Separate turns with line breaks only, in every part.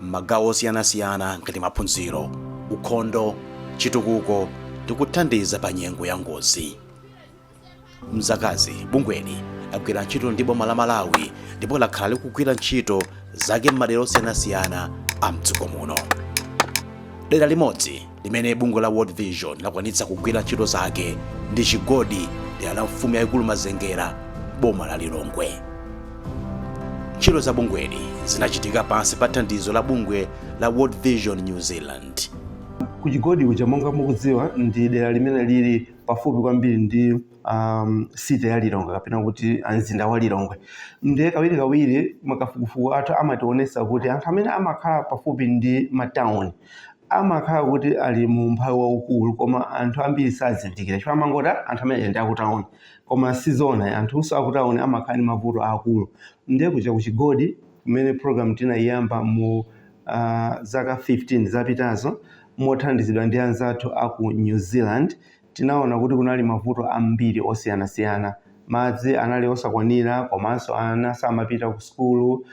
m'magawo osiyanasiyana ngati maphunziro, ukhondo, chitukuko ndi kuthandiza pa nyengo ya ngozi. M'zakazi, bungweli lagwira ntchito ndi boma la Malawi ndipo lakhala likugwira ntchito zake m'madera osiyanasiyana a m'dziko muno. Dera limodzi. limene bungwe la world vision lakwanitsa kugwira ntchito zake ndi chigodi m'dera la mfumu yayikulu mazengera m'boma la lilongwe ntchito za bungweli zinachitika pansi pa thandizo la bungwe la world vision new zealand kuchigodi
kuja monga mukudziwa ndi dera limene lili pafupi kwambiri ndi um, city ya lilongwe kapena kuti mzinda wa lilongwe ndiye kawiri kawiri makafukufuku athu amationesa kuti anthu amene amakhala pafupi ndi matauni amakhala kuti ali mu umphawi waukulu koma anthu ambiri sazindikira chifukwa amangoti "Ah, anthu amene ndi akutauni koma sizona anthunso akutauni amakhala ndi mavuto aakulu ndiye kuja ku chigodi kumene program tinayiyamba mu uh, zaka 15 zapitazo mothandizidwa ndi anzathu aku new zealand Tinaona kuti kunali mavuto ambiri osiyanasiyana. Madzi anali osakwanira komanso ana samapita kusukulu.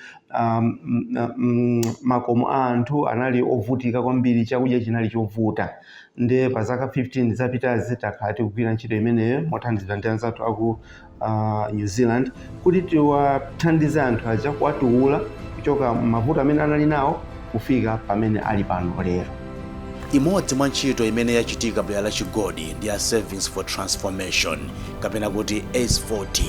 Makomo a anthu anali ovutika kwambiri, chakudya chinali chovuta. Ndiye pa zaka 15 zapitazi takhala tikugwira ntchito imeneyo mothandizidwa ndi anzathu a ku uh, New Zealand kuti tiwathandize anthu aja kuwatuwula kuchoka m'mavuto amene anali nawo kufika pamene ali pano lero. Imodzi
mwa ntchito imene yachitika m'dera la chigodi ndi ya Savings for Transformation kapena kuti S4T.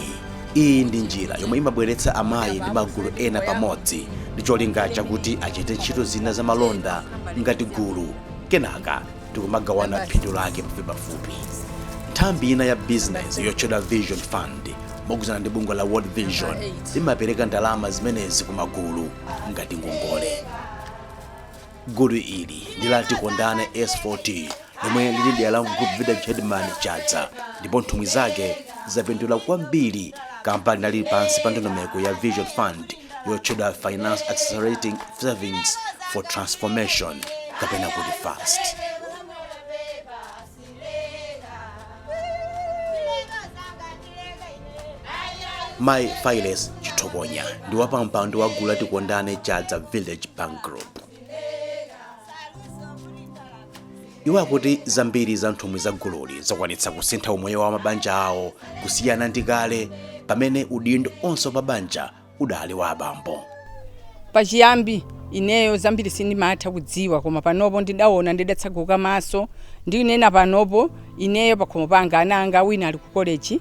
Iyi ndi njira yomwe imabweretsa amayi ndi magulu ena pamodzi ndi cholinga chakuti achite ntchito zina za malonda ngati gulu kenaka n'kumagawana phindu lake pafupipafupi nthambi ina ya bizinesi yotchedwa vision fund mogwirizana ndi bungwe la world vision limapereka ndalama zimenezi ku magulu ngati ngongole gulu ili ndi la tikondane s4t lomwe lili m'dera la group village headman chadza ndipo nthumwi zake zapindula kwambiri kamba kakuti lili pansi pa ndondomeko ya vision fund yotchedwa finance accelerating savings for transformation kapena kuti fast mai fales chithokonya ndi wapampando wa gulu la tikondane chadza village bank group iwo akuti zambiri za nthumwi za gululi zakwanitsa kusintha umoyo wa mabanja awo kusiyana ndi kale pamene udindo onse pa banja udali wa abambo pachiyambi
ineyo zambiri sindimatha kudziwa koma panopo ndidaona ndidatsaguka maso ndinena panopo ineyo pakhomo panga ana anga wina ali ku koleji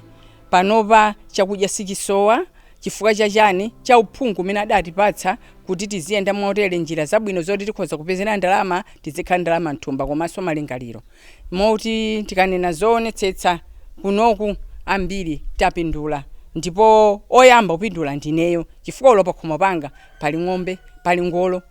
Panopa chakudya sichisowa chifukwa cha chani? Cha uphungu umene adatipatsa kuti tiziyenda motere, njira zabwino zoti tikhoza kupezera ndalama, tidzikhala ndi ndalama m'thumba komanso malingaliro. Moti tikanena zoonetsetsa kunoku ambiri tapindula ndipo oyamba kupindula ndineyo chifukwa olo pakhomo panga pali ng'ombe, pali ngolo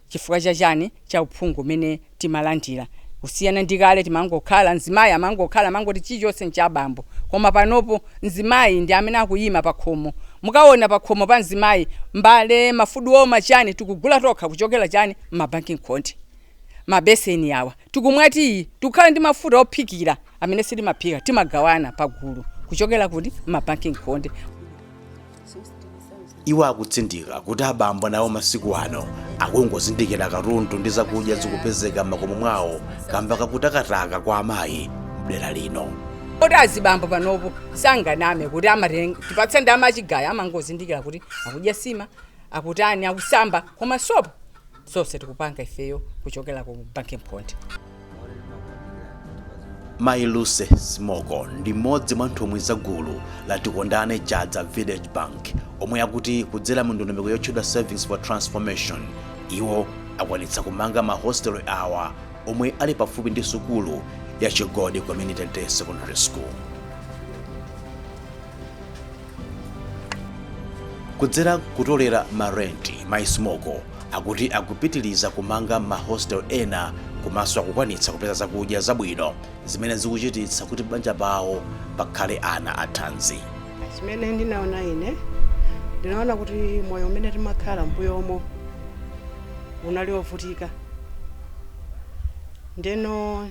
chifukwa cha chani? cha uphungu umene timalandira kusiyana ndi kale timangokhala mzimayi amangokhala amangoti chilichonse ncha abambo koma panopo mzimayi ndi amene akuyima pakhomo mukawona pakhomo pa mzimayi mbale mafudu woma chani tikugula tokha kuchokera chani mabanki nkhonde mabeseni awa tikumwa tiyi tikukhala ndi mafuta ophikira amene sitimaphika timagawana pagulu kuchokera kuti mmabanki nkhonde
iwo akutsindika kuti abambo nawo masiku ano akungozindikira katundu ndi zakudya zikupezeka m'makomo mwawo kamba kakutakataka kwa amayi mdera lino oti
azibambo panopo sanganame kuti amatenga tipatse ndalama yachigayo amangozindikira kuti akudya sima akutani akusamba koma sopo zonse tikupanga ifeyo kuchokera ku banki
nkhonde mayi lucy smoko ndi mmodzi mwa nthumwi za gulu la tikondane chadza village bank omwe akuti kudzera mu ndondomeko yotchedwa savings for transformation iwo akwanitsa kumanga mahostel awa omwe ali pafupi ndi sukulu ya chigodi community day secondary school Kudzera kutolera ma rent, mai Smoko akuti akupitiliza kumanga ma hostel ena komaso akukwanitsa kupeza zakudya zabwino zimene zikuchititsa kuti pabanja pawo pakhale ana athanzi. Zimene
ndinaona ine, ndinaona kuti moyo umene timakhala m'mbuyomo unali ovutika ndeno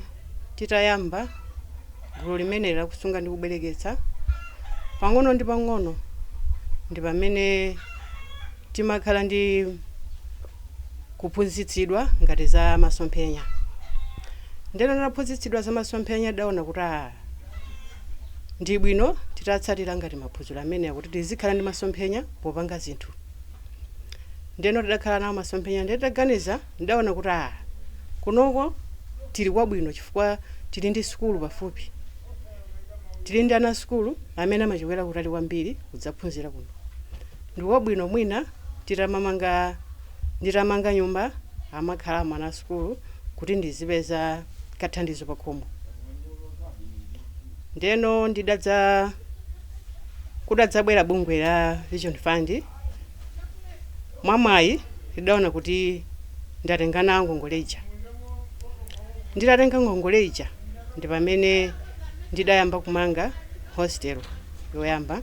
titayamba. Gulu limeneli la kusunga ndi kubwereketsa pang'ono ndi pang'ono ndi pamene timakhala ndi kuphunzitsidwa ngati za masomphenya. Ndeno taphunzitsidwa za masomphenya tidaona kuti a ndi bwino titatsatira ngati maphunziro amenewa kuti tizikhala ndi masomphenya popanga zinthu. Ndeno tidakhala nawo masomphenya ndiye nditaganiza Ndidaona kuti aa, kunoko tili kwabwino chifukwa tili ndi sukulu pafupi. Tili ndi ana a sukulu amene amachokera kutali kwambiri kudzaphunzira kuno. Ndi kwabwino mwina nditamanga nyumba amakhalamo ana a sukulu kuti ndizipeza kathandizo pakhomo. Ndeno kudadzabwera bungwe la Vision Fund. Mwamwayi ndidaona kuti ndatenga nawo ngongole ija. Nditatenga ngongole ija ndi pamene ndidayamba kumanga hostel yoyamba.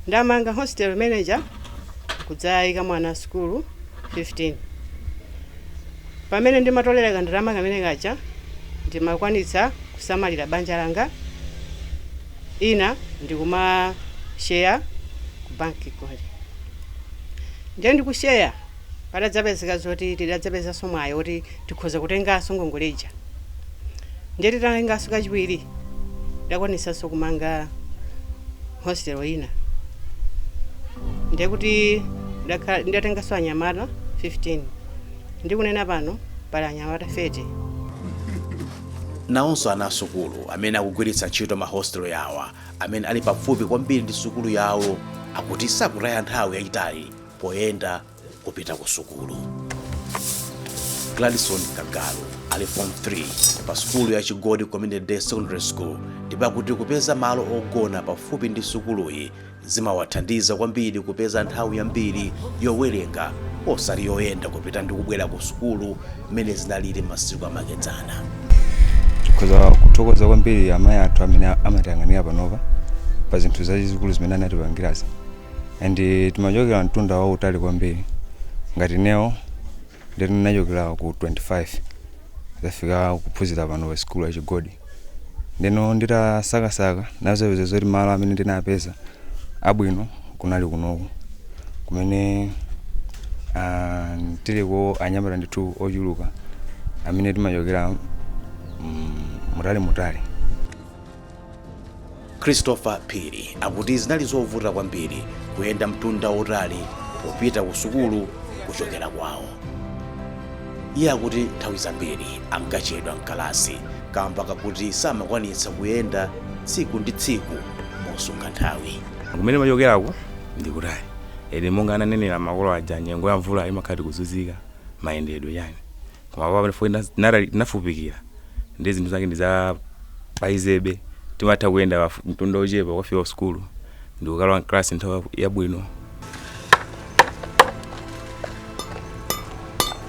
Ndamanga hostel imene ija n'kudzayikamo ana a sukulu 15. Pamene ndimatolera kandalama kamene kaja ndimakwanitsa kusamalira banja langa. ina ndikuma share ku bank kuja ndiye ndikushare padadzapezeka zoti tidadzapezanso mwayi woti tikhoza kutenganso ngongole ija ndiye titatenganso kachiwiri tidakwanisanso kumanga hostel ina ndiye kuti ndidatenganso anyamata 15 ndikunena pano pali anyamata 30
Nawonso ana a sukulu amene akugwiritsa ntchito mahositelo awa amene ali pafupi kwambiri ndi sukulu yawo akuti sakutaya nthawi yayitali poyenda kupita ku sukulu. Gladson Kagalu ali form 3 pa sukulu ya Chigodi Community Day Secondary School ndipo akuti kupeza malo ogona pafupi ndi sukuluyi Zimawathandiza kwambiri kupeza nthawi yambiri yowerenga osati yoyenda kupita ndi kubwera kusukulu mmene zinalili m'masiku amakedzana. Tikhoza
kuthokoza kwambiri amayi athu amene amatiyang'anira panopa pa zinthu zazikulu zimene anatipangirazi and timachokera mtunda wautali kwambiri ngati ineyo ndinachokera ku 25 ndazafika kuphunzira pano pa sikulu ya Chigodi. ndeno nditasakasaka ndinazapeza zoti malo amene ndinapeza abwino kunali kunoku kumene ah, tiliko anyamata ndithu ochuluka amene timachokera mm, mutali mutali
Christopher Phiri akuti zinali zovuta kwambiri kuyenda mtunda wotali popita ku sukulu kuchokera kwawo. Iye akuti nthawi zambiri ankachedwa mkalasi kamba kakuti samakwanitsa kuyenda tsiku ndi tsiku mosunga nthawi. kumene timachokerako
ndi kutali inde monga ananenera makolo aja nyengo ya mvula imakhala tikuzunzika mayendedwe chani Koma apa pafupi na- nara- tinafupikira ndi zinthu zake ndi za paizebe timatha kuyenda pafu- mtunda wochepa kukafika ku sukulu ndikukalowa mkalasi nthawi yaku- yabwino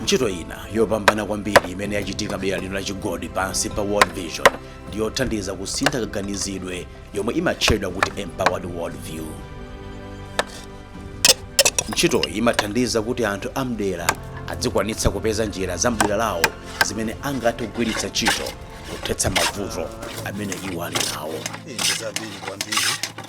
ntchito ina yopambana kwambiri imene yachitika dera lino la chigodi pansi pa world vision ndi yothandiza kusintha kaganizidwe yomwe imatchedwa kuti empowered world view ntchitoyi imathandiza kuti anthu amdera adzikwanitsa kupeza njira za mdera lawo zimene angathe kugwiritsa ntchito kuthetsa mavuto amene iwo ali nawo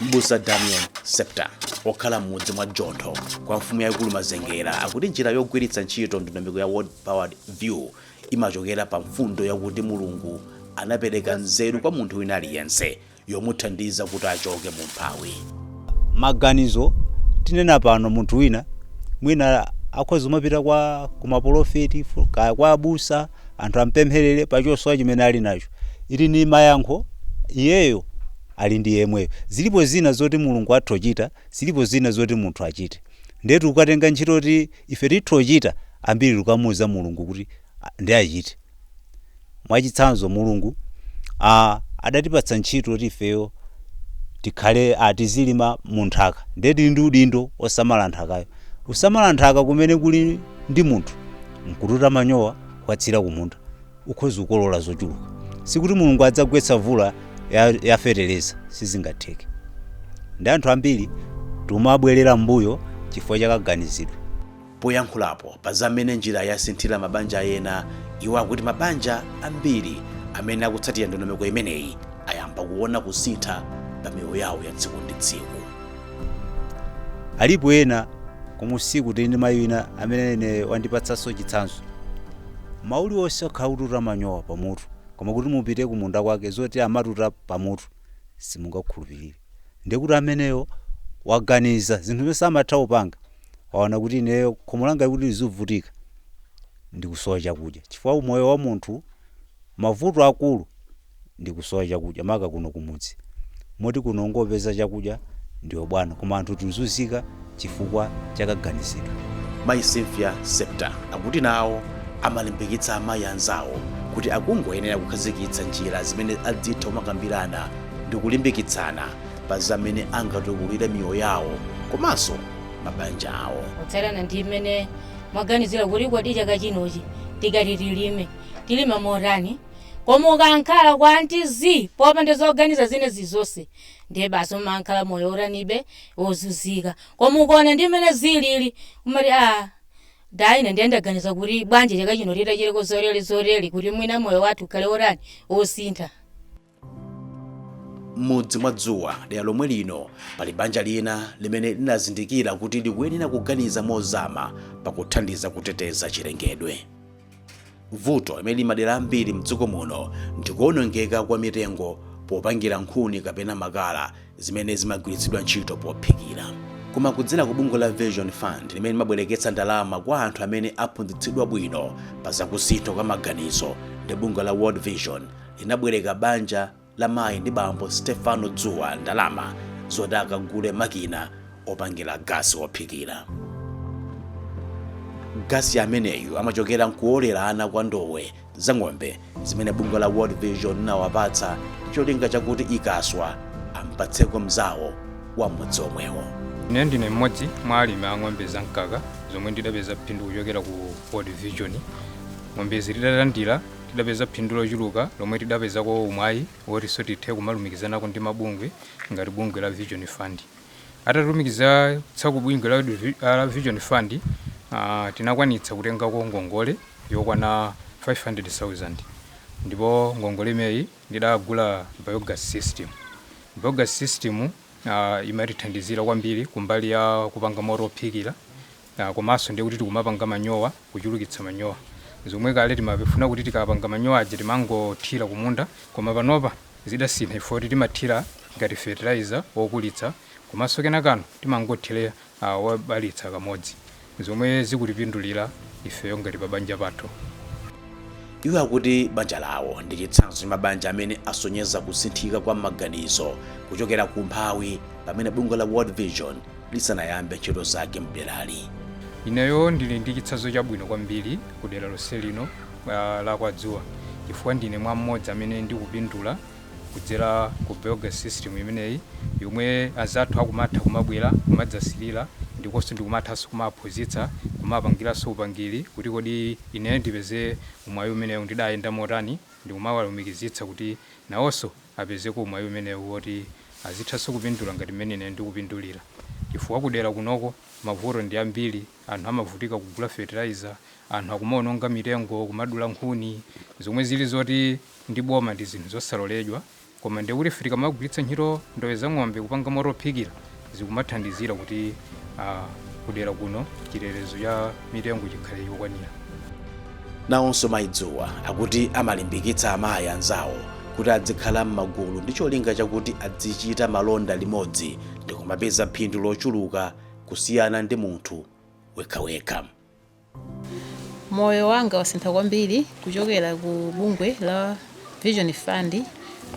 mbusa damian septa okhala m'mudzi mwa jontho kwa mfumu yayikulu mazengera akuti njira yogwiritsa ntchito ndondomeko ya Empowered World View imachokera pa mfundo yakuti mulungu anapereka nzeru kwa munthu wina aliyense yomuthandiza kuti achoke mu umphawi.
Maganizo, Tinena pano munthu wina mwina akhoza kumapita kwa kumapolofeti kaya kwa abusa anthu ampempherere pa chosowa chimene ali nacho ili ni mayankho iyeyo ali ndi yemweyo zilipo zina zoti mulungu atha kuchita zilipo zina zoti munthu achite nde tukatenga ntchito kuti ife titha kuchita ambiri tukamuuza mulungu kuti "Ah, ndi achite Mwachitsanzo, Mulungu a, adatipatsa ntchito yoti ifeyo tikhale a, tizilima mu nthaka. Ndiye tili ndi udindo osamala nthakayo. Kusamala nthaka kumene kuli ndi munthu nkututa manyowa kukatsira kumunda, ukhoza kukolola zochuluka. Si kuti Mulungu adzagwetsa mvula ya, ya feteleza, sizingatheke. Ndiye anthu ambiri tumabwerera m'mbuyo chifukwa cha kaganizidwe.
Poyankhulapo pa za mmene njirayi yasinthira mabanja ena, iwo akuti mabanja ambiri amene akutsatira ndondomeko imeneyi ayamba kuona kusintha pa miyoyo yawo ya tsiku ndi tsiku.
Alipo ena komwe kuno tili ndi mayi wina amene ine wandipatsanso chitsanzo. Mmawa uliwonse wakhala akututa manyowa pamutu, koma kuti mupite kumunda kwake zoti amatuta pamutu simungakhulupirire. ndiye kuti ameneyo waganiza zinthu zimene amatha kupanga waona kuti ineyo khomo langali kuti lizivutika ndikusowa chakudya chifukwa moyo wa munthu mavuto akulu ndikusowa chakudya maka kuno kumudzi moti kuno ungopeza chakudya ndiwe bwana koma anthu tuzuzika chifukwa cha kaganizidwe. Mayi
Cynthia Septa akuti nawo amalimbikitsa amayi anzawo kuti akungoyenera kukhazikitsa njira zimene adzitha kumakambirana ndi kulimbikitsana pa za mmene angatukulire miyoyo yawo komanso mabanja awo. kutsatana ndi
mmene mwaganizira kuti kodi chaka chinochi tikati tilime tilima motani koma ukangokhala kuti zii popanda zoganiza zina zilizonse ndiye basi umangokhala moyo otanibe ozuzika koma ukaona ndi mmene zilili umati aah dadi ine ndiye ndaganiza kuti bwanji chaka chino titachiteko zotere zotere kuti mwina moyo wathu ukhale otani osintha.
M'mudzi mwa Dzuwa, dera lomwe lino, pali banja lina limene linazindikira kuti likuyenera kuganiza mozama pakuthandiza kuteteza chilengedwe. vuto limene limadela ambiri mdziko muno ndikuonongeka kwa mitengo popangira nkhuni kapena makala zimene zimagwiritsidwa ntchito pophikira koma kudzera ku bungwe la vision fund limene limabwereketsa ndalama kwa anthu amene aphunzitsidwa bwino pa zakusintha kwa maganizo ndi bungwe la world vision linabwereka banja la mayi ndi bambo Stephano Dzuwa ndalama zoti akagule makina opangira gasi wophikira. Gasi ameneyu amachokera nkuolerana kwa ndowe za ng'ombe zimene bungwe la World Vision linawapatsa cholinga chakuti ikaswa ampatseko mzawo wa mmudzi omwewo. Ine ndine mmodzi
mwa alimi a ng'ombe za mkaka zomwe ndidapeza phindu kuchokera ku World Vision. Ng'ombezi nditalandira Tidapeza phindu lochuluka lomwe tidapezako umwayi wotinso tithe kumalumikizanako ndi mabungwe ngati bungwe la Vision Fund. Atatilumikizatsa ku bungwe la Vision Fund tinakwanitsa kutengako ngongole yokwana 500,000 ndipo ngongole imeneyi ndidagula biogas system. Biogas system imatithandizira kwambiri kumbali ya kupanga moto wophikira. komanso ndiye kuti tikumapanga manyowa kuchulukitsa manyowa zomwe kale timafuna kuti tikapanga manyowa aja timangothira kumunda koma panopa zidasintha chifukwa choti timathira ngati fertilizer wokulitsa komanso kenakano timangothira a wobalitsa kamodzi zomwe zikutipindulira ifeyo ngati pabanja pathu.
Iwo akuti banja lawo ndi chitsanzo cha mabanja amene asonyeza kusinthika kwa maganizo kuchokera ku umphawi pamene bungwe la World Vision lisanayambe ntchito zake m'derali.
Ineyo ndili ndi chitsanzo chabwino kwambiri ku dera lonse lino ah, la kwa Dzuwa chifukwa ndine mwa mmodzi amene ndikupindula kudzera ku biogas system imeneyi yomwe anzathu akumatha kumabwera kumadzasilira ndiponso ndikumathanso kumawaphunzitsa kumawapangiranso upangiri kuti kodi ineyo ndipeze mwayi umenewu ndidayenda motani ndikumawalumikizitsa kuti nawonso apezeko mwayi umenewu woti azithanso kupindula ngati mmene ineyo ndikupindulira chifukwa kudera kunoko mavuto ndi ambiri anthu amavutika kugula fertilizer anthu akumaononga mitengo kumadula nkhuni zomwe zili zoti ndi boma ndi zinthu zosaloledwa koma ndiye kuti ife tikamagwiritsa ntchito ndowe za ng'ombe kupanga moto ophikira zikumathandizira kuti ah, kudera kuno chitetezo cha mitengo chikhale chokwanira
nawonso mayi dzuwa akuti amalimbikitsa amayi anzawo kuti adzikhala m'magulu ndi cholinga chakuti adzichita malonda limodzi ndi kumapeza phindu lochuluka kusiyana ndi munthu wekhawekha
Moyo wanga wasintha kwambiri kuchokera ku bungwe la Vision Fund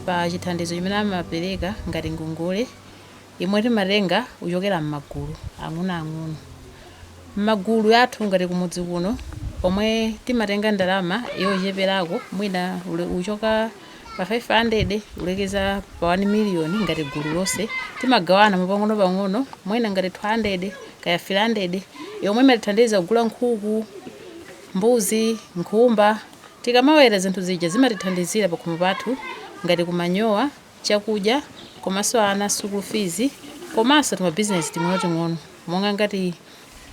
pa chithandizo chimene amapereka ngati ngongole yomwe timatenga kuchokera m'magulu ang'onoang'ono. M'magulu athu ngati kumudzi kuno, omwe timatenga ndalama yocheperako, mwina kuchoka Pa 500 kulekeza pa 1 miliyoni ngati gulu lonse timagawana mopang'onopang'ono mwina ngati 200 kaya 300 yomwe imatithandiza kugula nkhuku, mbuzi, nkhumba. Tikamaweta zinthu zija zimatithandizira pakhomo pathu ngati ku manyowa, chakudya komanso ana school fees komanso timabizinesi ting'onoting'ono monga ngati.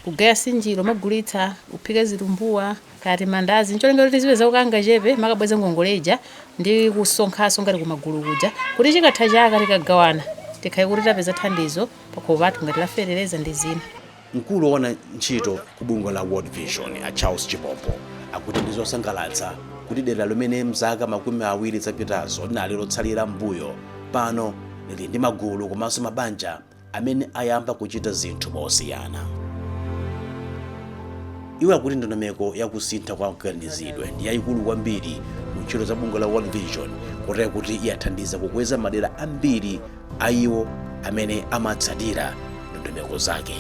Kugaya nsinjiro, n'kumagulitsa, kuphika zitumbuwa, kaya timandazi, ncholinga choti tizipezako kangachepe, n'kumakabweza ngongole ija, ndi kusonkhanso ngati kumagulu kuja, kuti chikatha chaka tikagawana, tikhale kuti tapeza thandizo pakhomo pathu ngati la feteleza ndi zina. Mkulu woona
ntchito ku bungwe la World Vision, a Charles Chipompo, akuti ndi zosangalatsa kuti dera limene mzaka makumi awiri zapitazo linali lotsalira mmbuyo, pano lili ndi magulu komanso mabanja. amene ayamba kuchita zinthu mosiyana. Iwo akuti ndondomeko ya kusintha kwa kaganizidwe ndi yaikulu kwambiri mu ntchito za bungwe la World Vision kotero kuti yathandiza kukweza madera ambiri a iwo amene amatsatira ndondomeko zake.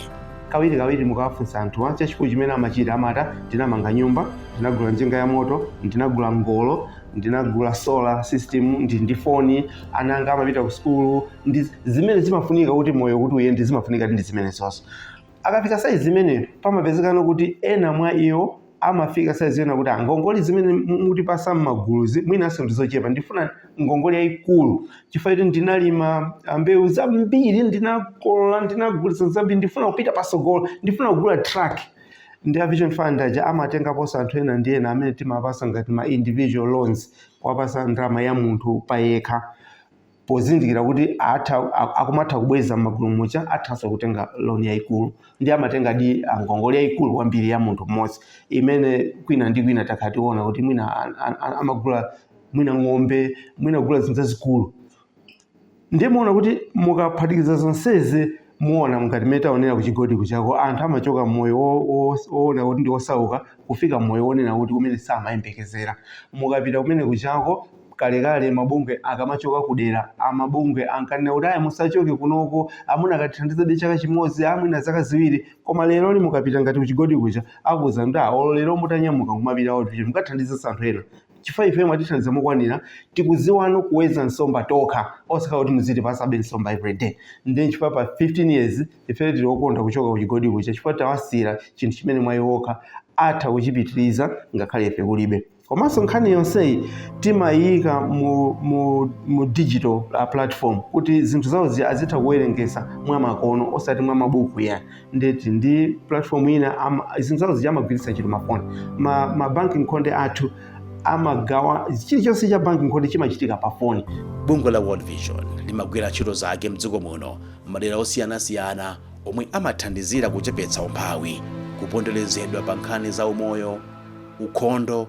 kawiri
kawiri mukawafunsa anthuwa chachikulu chimene amachita amati ndinamanga nyumba ndinagula njinga ya moto ndinagula ngolo ndinagula solar system ndi ndi foni ana anga amapita ku sukulu ndi zimene zimafunika kuti moyo kuti uyende zimafunika ndi zimene zonse akafika saizi imene pamapezekano kuti ena mwa iwo amafika saizi yonena kuti ngongole zimene mutipatsa m'maguluzi mwinanso ndizochepa ndifuna ngongole yaikulu chifukwa choti ndinalima mbewu zambiri ndinakolola ndinagulitsa zambiri ndifuna kupita patsogolo ndifuna kugula truck ndiye a Vision Fund aja amatengaponso anthu ena ndi ena amene timawapatsa ngati ma individual loans kuwapatsa ndalama ya munthu payekha pozindikira kuti ah akumatha kubweza m'magulu muja athanso kutenga loan yaikulu ndiye amatengadi ngongole yaikulu kwambiri ya munthu mmodzi imene kwina ndi kwina takhala tikuona kuti mwina amagula mwina ng'ombe mwina kugula zinthu zazikulu ndiye muona kuti mukaphatikiza zonsezi muona ngati mmene taonera ku Chigodi kujako anthu amachoka mmoyo wo- wo- woona kuti ndi osauka kufika mmoyo wonena kuti kumene samayembekezera mukapita kumene kujako kalekale mabungwe akamachoka kudera amafumu ankanena kuti ayi musachoke kunoko mukanatithandizabe chaka chimodzi mwina zaka ziwiri koma leroli mukapita ngati ku Chigodi kuja akuuzani kuti "Ah, olo lero mutanyamuka kumapita kuti mukathandizenso anthu ena chifukwa ifeno mwatithandiza mokwanira tikuziwano kuweza nsomba tokha osakhala kuti muzitipasabe nsomba everyday nde nchifukwa pa 15 years ifeyo tili okondwa kuchoka kuchigodi kuja chifukwa tawasiyira chinthu chimene mwa iwo okha atha kuchipitiriza ngakhale ife kulibe komanso nkhani yonseyi timayiyika mu, mu, mu digital uh, platform kuti zinthu zawo zi- azitha kuwerengesa mwa makono osati mwa mabuku ya ndeti ndi platform ina ama- zinthu zawo zija amagwiritsa ntchito mafoni ma, ma banki nkhonde anthu amagawa chilichonse cha banki nkhonde chimachitika pa foni bungwe la world
vision limagwira ntchito zake mdziko muno m'madera osiyanasiyana omwe amathandizira kuchepetsa umphawi kuponderezedwa pa nkhani za umoyo ukhondo